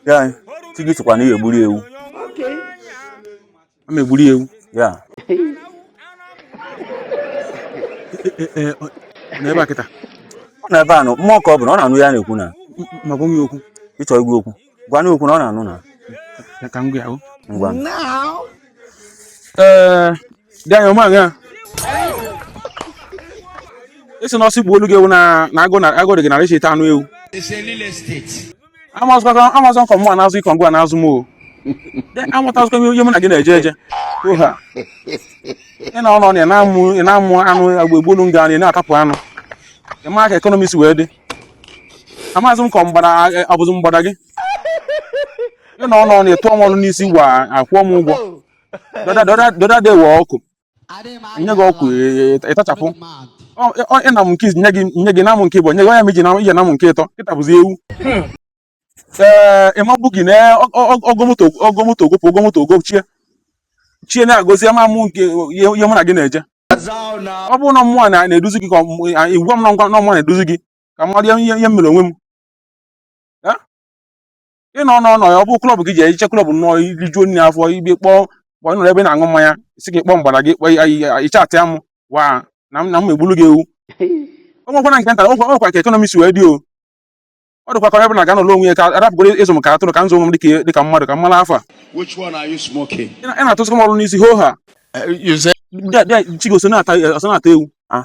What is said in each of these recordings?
ya chi gị sịkwa na ị ga-egburu ewu ama egburu ewu ya n'ebe a kịta ọ nọ ebe a nọ mmụọ ka ọ bụ na ọ na-anụ ihe a na-ekwu na ma gwa m ya okwu ị chọọ ịgwa ya okwu gwa ya okwu na ọ na-anụ na ka m gwa ya ngwa ee dị anya ọma ya esi na ọ sị gbuolu gị ewu na na agụụ na agụụ dị gị nara isi ịta anụ ewu amazikwa amazi m ka ọ mụa na-azụ gị ka ọ ngịwa na-azụ m o De, amatazikwa m ihe mụ na gị na-eje eje oha ị nọ n'ụnọ na ị na-amụ ị na-amụ anụ agba egbolu nga na ị na-atapụ anụ ị ma ka ekọnọmi si wee dị amaghịzị m ka ọ mgbada a- abụzi mgbada gị ị nọ n'ụnọ na-atụ m ọnụ n'isi gwa akwụọ m ụgwọ the other day wee ọkụ nye gị ọkụ ị tachapụ ị na m nke nye gị nye gị na m nke ịbụọ nye gị enye m gị ị je na m nke ịtọ kịta bụzi ewu ee ịmabụ gị na-ego moto ego moto egopụ ego moto ogopchie chie na-agọzi ama m nke ihe mụ na gị na-eje ọ bụrụ na ọ mụ na-eduzi gị ka ị gwa m na ngwa na ọ mụ na-eduzi gị ka m mara ihe m mere onwe m ị nọ n'ụnọ ya ọ bụ klọb gị ji ehiche klọb nọ ị rijuo nri afọ igbe kpọọ kpọọ ị nọrọ ebe ị na-aṅụ mmanya si gị kpọọ mgbada gị kpọọ ị chatịa mụwa na m na m egbulu gị ewu o nwekwana nke nta o nwekwa o nwekwa ka ekọnọmi si wee dị o ọ dịkwa ka onye ọbụla ga-anọlụ onwe ya ka a rapụgoro ịzụ m ka atụrụ ka m zụọ onwe m dịka dịka mmadụ ka m mara afa Which one are you smoking? ị na- ị na-atụsịkwa m ọnụ n'isi hoo ha Eh, you say bịa bịa chi gị so na-ata o so na-ata ewu Ah,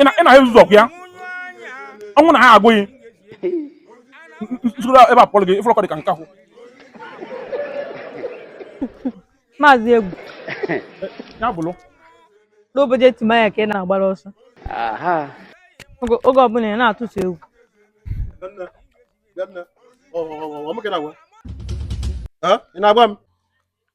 ị na-ahụ ụzọ ọkụ ya ọnwụ na ha agụghị nsoro ebe a pụrụ gị ị fụrọ ka ọ dị ka nke ahụ maazị egwu ya bụrụ n'obodo etimanya ka ị na-agbara ọsọ oge oge ọbụla ị na-atụsị egwu ị na-agwa m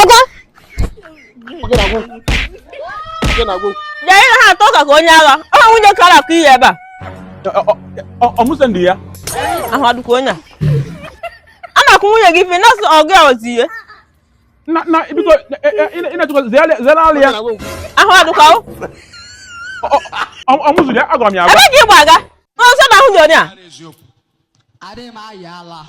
ọga bịa ha atọ ka ka onye agha ọ nwunye kara akụ ihe ebe a ọmụse ndị ya ahụ adịkwa onye a a na-akwụ nwunye gị ife na-asụ ọgụ ya ozi ihe na na biko ị na-achọkwa zere alị ya ahụ adịkwa ọmụzụ ya agwara m ya agwa ebe e ji gbaga n'ọsọ na ahụ dị onye a adịghị m ayị ala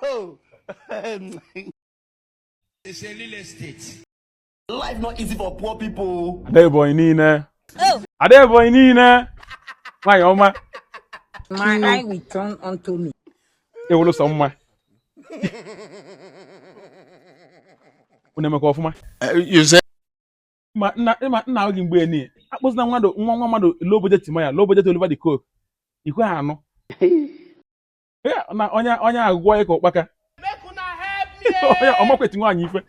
oh. it's a real estate. Life not easy for poor people. Ada Ebonyi niile. Oh. Ada Ebonyi niile. Nwanyị ọma. My eye will turn unto me. Ewolo sọ mma. Unu emekwa ọfụma. Eh, ma m na-agwa gị mgbe niile akpọzina nwa nwa mmadụ low budget Timaya low budget Oliver De Coque i kweghị anụ na onye onye agụgwọ ya ka ụkpaka onye ọ makwa eti nwaanyị ife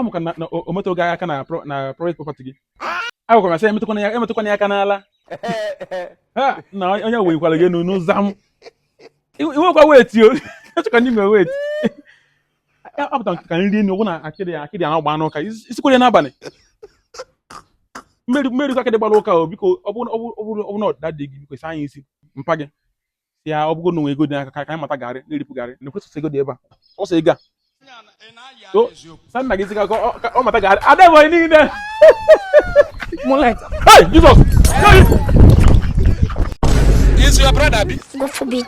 maka na o metụ gị aka na private property gị agwara m sị emetụkwana ya emetụkwana ya aka n'ala na onye weyikwara gị enu n'ụzọ m iwekwa weti o echekwa n'ime weti apụta ka nri Enugwu na akịdị akịdị a na-agbanụ ụka isikwere n'abalị mmeri mmeri ka akịdị gbara ụka o biko ọ bụrụ na ọdịda dị gị biko saa anyị isi mpa gị si ya ọ bụgo na o nwe ego dị n'aka ka anyị mata garị na-eripụ garị na ekwesịsị ego dị ebe a ọ sị ego a so sa nna gị ziga ka ọ- ka ọ mata garị ada ebe anyị niile hey jizọs Is your brother abi? Go for beat.